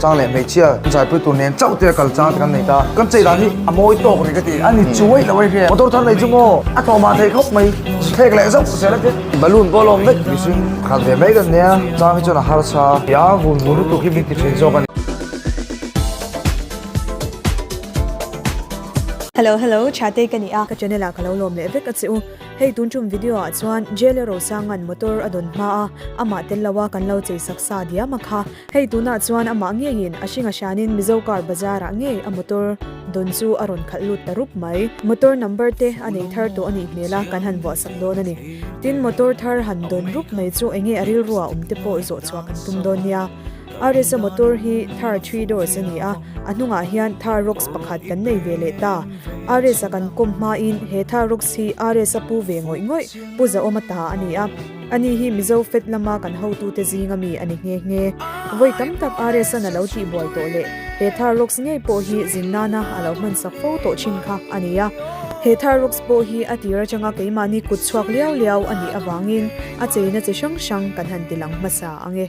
Chang leh hmeichhia zirpui tur nen chauh te kal chang te kan nei ta. Kan chei dan hi a mawi tawk ni ka ti. A ni chuai lo e hriat. Motor thar nei chu maw a tlawma thei khawp mai. Thlek leh zauh ka sia la khe. Balloon pawh a lawm vek mihring a khat ve mai ka nia. Chang hi chuan a harsa a tia vun vun lutuk hi min ti thin zawk a ni. Hello hello Thatei ka ni a. Ka channel ah ka lo lawm leh vek a che u. Hei tun tum video ah chuan Jelle Rosangan motor a dawn hma a amah tel lo a kan lo chei saksa diam a kha. Hei tunah chuan amah ngeiin a hringa hrianin Mizo Car Bazar ah ngei a motor dawn chu a rawn khalh lut ta rup mai. Motor number te a nei thar tawh a nih hmel a kan han vuah sak dawn a ni. Tin, motor thar han dawn rup mai chu eng nge a rilru ah awm te pawh zawh chhuah kan tum dawn nia. Ares a motor hi Thar three doors a ni a, a hnungah hian Thar Roxx pakhat kan nei ve leh ta. Ares a kan kawm hmain he Thar Roxx hi Ares a pu ve ngawih ngawih, pu zahawm a ta a ni a. Ani hi Mizo Fed lama kan hotute zinga mi a ni nghe nghe. Vawi tam tak RSAn a lo tihbuai tawh leh he Thar Rocks ngei pawh hi zin nana a lo hmansak fo tawh thin kha a ni a. He Thar Rocks pawh hi a tir atanga keimahni kut chhuak liau liau a nih avangin a cheina chi hrang hrang kan han tilang hmasa ang e.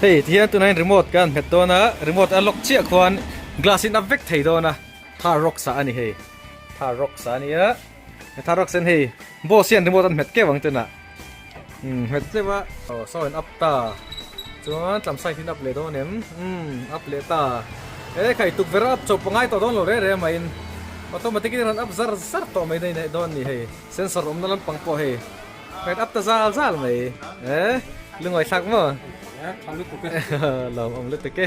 Hei ti hian tunah remote kan nghet dawn a remote a lock chiah khuan glass in a vek thei dawn a thar rock sa a ni hei thar rock sa a ni a thar rock sen hei boss hian remote an nghet kep ang tenah. Nghet tleuh a. Aw saw in up ta. Chuan tlam side in up leh dawn em. Umm up leh ta. E kai tukverh a up chauh pawngai tawh dawn lo reh reh mai in. Automatic in a rawn up zar zar tawh mai daih daih dawn a ni hei. Sensor awmna lampang pawh hei. A rawn up ta zal zal mai. E lungawithlak maw? Lo awm lutuk e.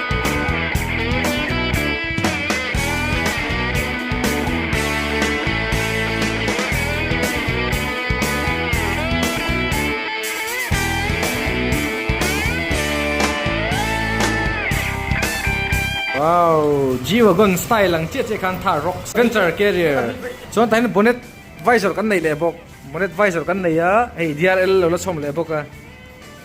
G-Wagon style ang chiah chiah khan thar rawk. Adventure Carrier. Chuan tahin bonnet visor kan neih leh bawk. Bonnet visor kan nei a, hei DRL lo la chhawm leh bawk a.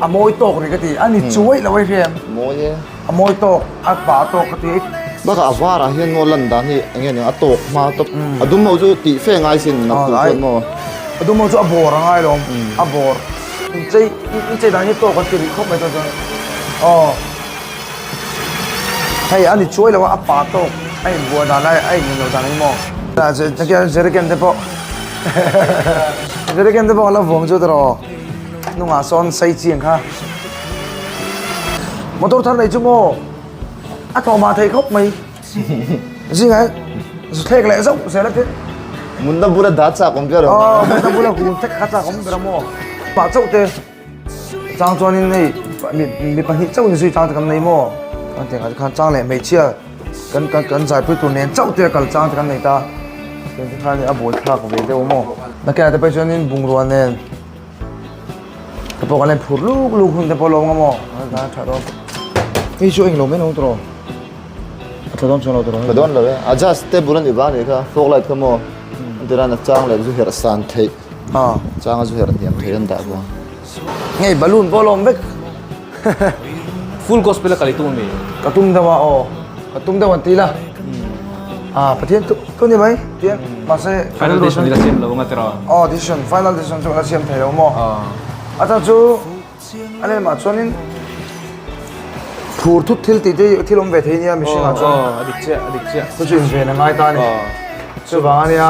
A mawi tawk ri ka ti. A ni chuai lo e hriam. Mawi e. A mawi tawk, a pa tawk ka ti. Bakah a varah hian maw lan dan hi enge nia, a tawk hma tawp. A dum ho chu tih fe ngai sin a tum pawimawh ang. A dum ho chu a bawr a ngailawm, a bawr. Inchei, inchei dan hi tawk kan ti rih khawp mai tawh chuan aw. Hei a ni chuai lo a, a pa tawk a inbuai dan lai, a inneihloh dan hi maw. Jerrycan te pawh, Jerrycan te pawh a la vuang chu tawrh aw. Hnungah sawn sai chiang kha motor thar nei chu maw a tlawhmah thei khawp mai zingah thlek leh zauh se la te munna bula dah chak awm ber awm a munna bula hun thek kha chak awm ber awm aw pah chauh te chang chuan in hei mi pahnih chauh in zui chang te kan nei maw kan tih khan chang leh hmeichhia kan kan kan zaipui tur nen chauh te kal chang te kan nei ta khan a bul thlak ve deuh maw nakinah te pawh chuan in bungrua nen Ka pawh kan en phur luk luk hun te pawh lo ngam aw. Ka tha tha dawn. Hei chu eng lo men hong tro. A tha dawn chuan lo tro. Tha dawn lo e. A just table ani vang ani kha. Fog light kha maw. An ti ran a chang leh zu herh san theih. A chang a zu herh hniam theih an dah vang. Hei balloon pawh a lo awm vek. Full gospel a kalih tu ami? Ka tum deuh a aw, ka tum deuh an ti la. A Pathian tu tu ni mai tih a mahse final decision ila siam lo anga tira? Aw decision final decision chu ala siam thei lo maw? A chang chu a lem ah chuan in phur thut thil tih te hi thil awm ve thei nia mihring ah chuan. Aw a dik chiah a dik chiah. Chu chu inven a ngai ta a ni. Chuvang ania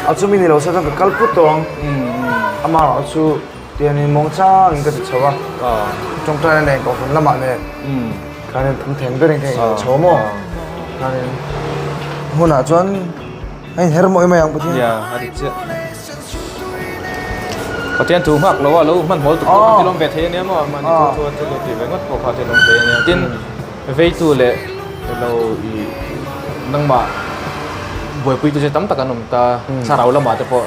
a chumi ni lo se chuan ka kal put tawh ang. Amah chu. Tih a ni mawng changin ka ti chho a, tawngtaia nen ka awh hun lamah nen khanin pum theng berin ka inawh chho maw khanin hunah chuan a inher mawih mai ang Pathian nia a ri chiah. Pathian thu nghak loh a lo hmanhawl tuk pawh ka tilawm ve thei ania maw a mahni thu chuan chu lo tih ve ngawt pawh kha a tilawm thei ania tin veitu leh ilo ih nangmah buaipui te chu tam tak an awm ta thlarau lamah te pawh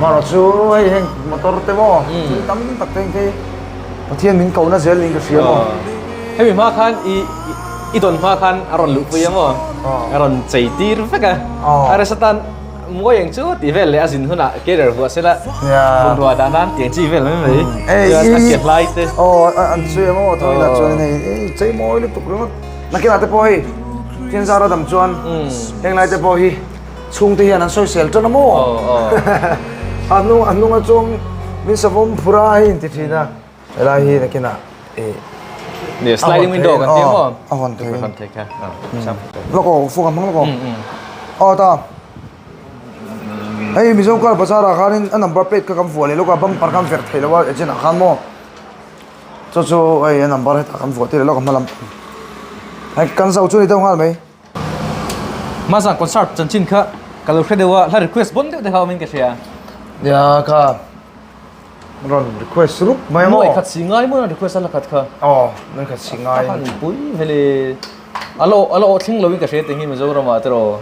Mahra chu hei heng motor te maw thil tam tak te engte hi Pathian min kohna zel niin ka hria maw? Hemi hma khan i i dawn hma khan a rawn luh pui a maw? A rawn chei tir vek a. A resa tan mawi ang chu tih vel leh a zin hunah carrier vuah sela bungrua dah nan tih ang chi vel mai mai. Chuan a kiat lai te. Aw a an sawi ang aw thawina chuan hei i chei mawi lutuk ringawt. Nakinah te pawh hei Thianzara dam chuan heng lai te pawh hi, Chhungte hian an sawisel tan a maw? A hnung a hnunga chuan min savawm phur a hei an ti thin a. Helai hi nakinah ih Ni sliding window kan tih ang maw? A hawn thei in. Lawk aw, u Funga hmang lawk aw. Aw ta, hei Mizo kar bazar ah khan in a number plate kha kan vuah leh lawk a, bumper khan verh theih loh a agent ah khan maw? Chu chu hei a number hetah kan vuah tirh leh lawk a hmalam. Hei kan zau chu ni deuh nghal mai. Mahza concert chanchin kha ka lo hre deuh a, hla request bon deuh te kha awm in ka hria. Nia kha rawn request rup mai a maw? Mawi khat si ngai maw na request a hla khat kha? Aw, mawi khat si ngai. Kha ni pui vel e. A la a la aw thleng lo in ka hria teng hi Mizoram ah te rawh.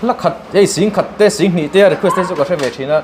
Hla khat, hei sing khat te sing hnih te a request te chu ka hre ve thin a.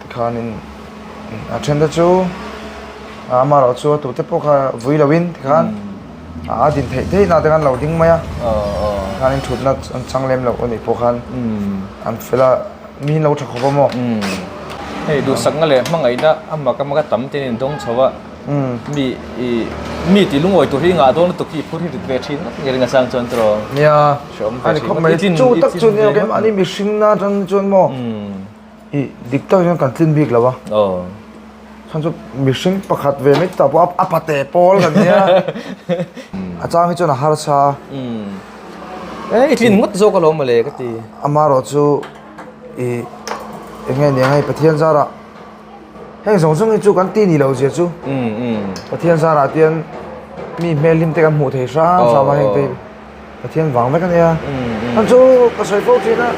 Tikhan in a then te chu a ama erawh chu a tute pawh kha vui lo in tikhan a din theih theih na te khan an lo ding mai a tikhan in thutna an chang lem loh anih pawh khan an fel a mi hi an lo tha khawp a maw hei duhsakna leh hmangaihna a mak a mak a tam te in an dawng chho a mi i mi tih lungawi tur hi ngah dawn lutuk hi i phur hi dik ve thin rawt nia ring asang chuan chu nia a ni khawp mai chu tak chu nia keng mah ni mihring na atang hi chuan maw. I dik tak hian kan tlin bik lo a. Aw. Chhan chu mihring pakhat ve mai tak pawh a pate pawl kan nia. A chang hi chuan a harsa a. Eng i tlin ngawt zawk alo mawle ka ti. Ama erawh chu i eng nge nia hei Pathian zara heng zawng zawng hi chu kan ti ni lo zia chu. Pathian zara tian mi hmel hlim te kan hmuh theih hram hram a heng te hi. Pathian vang vek a nia. An chu ka sawi fo thin a,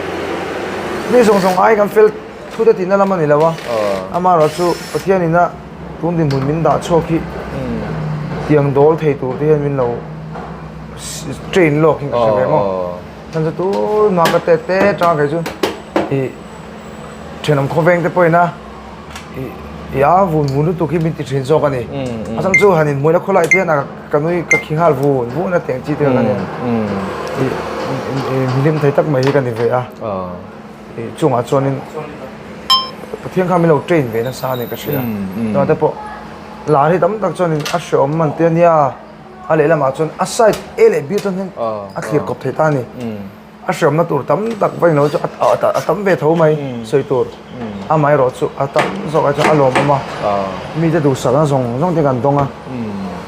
mi zawng zawng ai kan fel thu te tihna lam a ni lo a. Ama erawh chu Pathian ina tun dinhmun min dah chhuak hi tiang dawl thei tur te hian min lo train lawk hi ka hre ve maw. Chan chu tunah ka tet te atanga kei chu i thenawm khawveng te pawh ina. i â vun vun lutuk hi min ti ṭhin zâwk a ni. A chang chu han inhmuihna khaw lai tihna ka nui ka khi nghal vun vun a tih ang chi tel ka nen. I hlim thei tak mai hi ka ni ve a, i chungah chuanin Pathian kha min lo train ve nasa a ni ka hria. Tunate pawh lâr hi tam tak chuanin a hreawm man tia nia, a lehlamah chuan a side A leh B chuan hian a thlir kawp thei ta a ni. A hriamna tur tam tak vawiin lo chuan a a a tam ve tho mai sawi tur amah erawh chu a tam zawk a chuan a lawmawm a mite duhsalna zawng zawng ten kan dawng a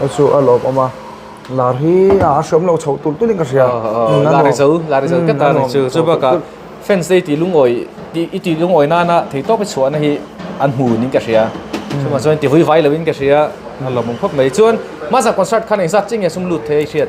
a chu a lawmawm a lar hi a hriam lo chhoh tulh tulhin ka hria a nuam chhoh tulh tulh chu bak a fans te i tih lungawi tih i tih lungawi nana thei tawp i chhuahna hi an hmu niin ka hria chungah chuan tihlui vai loin ka hria a lawmawm khawp mai chuan mahse concert khan engzat chiang nge a sum lut theih a i hriat.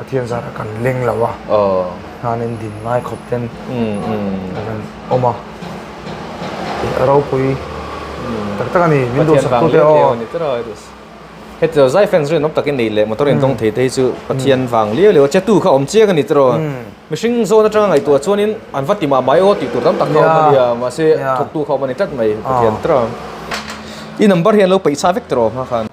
Pathian zat a kan leng lo a, hnanin din ngai khawp ten a rawn awm a, tih a ropui tak tak a ni, min duh sak tute aw. Heti lo zai fans rinawm takin nei leh motor intawng thei te hi chu Pathian vang liau liau a, chetu kha awm chiang a ni tawrh aw, mihring zawn atanga ngaihtuah chuanin an va ti mah mai aw tih tur tam tak kha awm a nia, mahse thawktu kha awm a ni tlat mai Pathian tar a, i number hi an lo peih chha vek tawrh aw hma khan.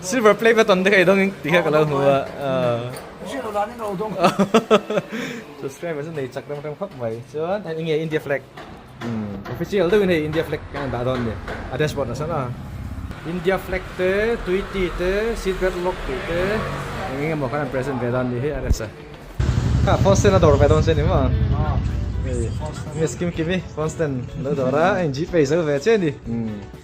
Silver play button te kai dongin ti kha ka lo hmu a. Hriat lo dan in ro dong. Subscriber chu nei chak rem rem khawp mai. Chuan hei enge India flag. Official deuhin hei India flag kan dah dawn nen a dashboard ah sawna. India flag te, Tweety te, seat belt lock tih te eng eng emaw khan an present ve dan ni hi a rest a. Kha phone stand a dawr ve dawn che ni maw? Miss Kim Kimi phone stand a lo dawr a, a in Gpay zo ve che ni.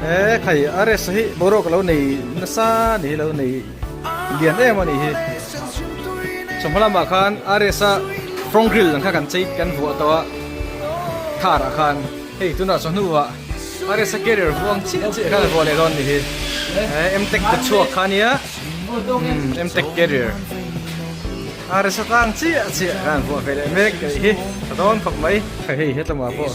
He khai a rest hi boruak lo nei nasa ni hi lo nei lian em ani hi chawhmalam ah khan a rest a from grill ang kha kan chei kan vuah to a thar ah khan hei tuna chawhnu ah a rest a carrier vuang chiah chiah khan vuah leh dawn ni hi he emtek te chhuak khan nia emtek carrier a rest a tang chiah chiah khan vuah ve leh mek a nih hi a dawn khawp mai khai hei hetlama pawh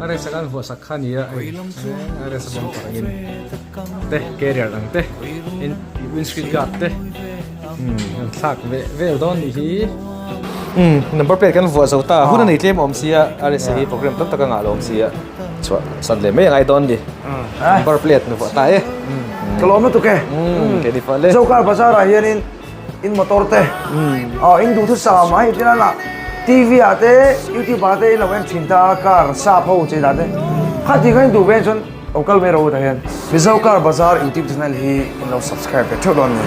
A resa kan vuahsak kha nia ei a resa bumper ang in te carrier ang te in windscreen guard te kan thlak ve vel dawn nih hi number plate kan vuah zo ta hun a nei tlem awm sia a resa hi program tam tak a ngah lo awm sia chhuah san leh mai a ngai dawn ni number plate ni vuah ta e ka lawm lutuk e ke ni pawh le Zokar bazar ah hian in in motor te aw in duhthut sangah mah hi tina lah tv ah te youtube ah te in lo en thin ta car sa pho chei dan te kha ti khan in duh ve chuan aw kal mai ro ta hian mizo car bazar youtube channel hi in lo subscribe ve theuh dawn ni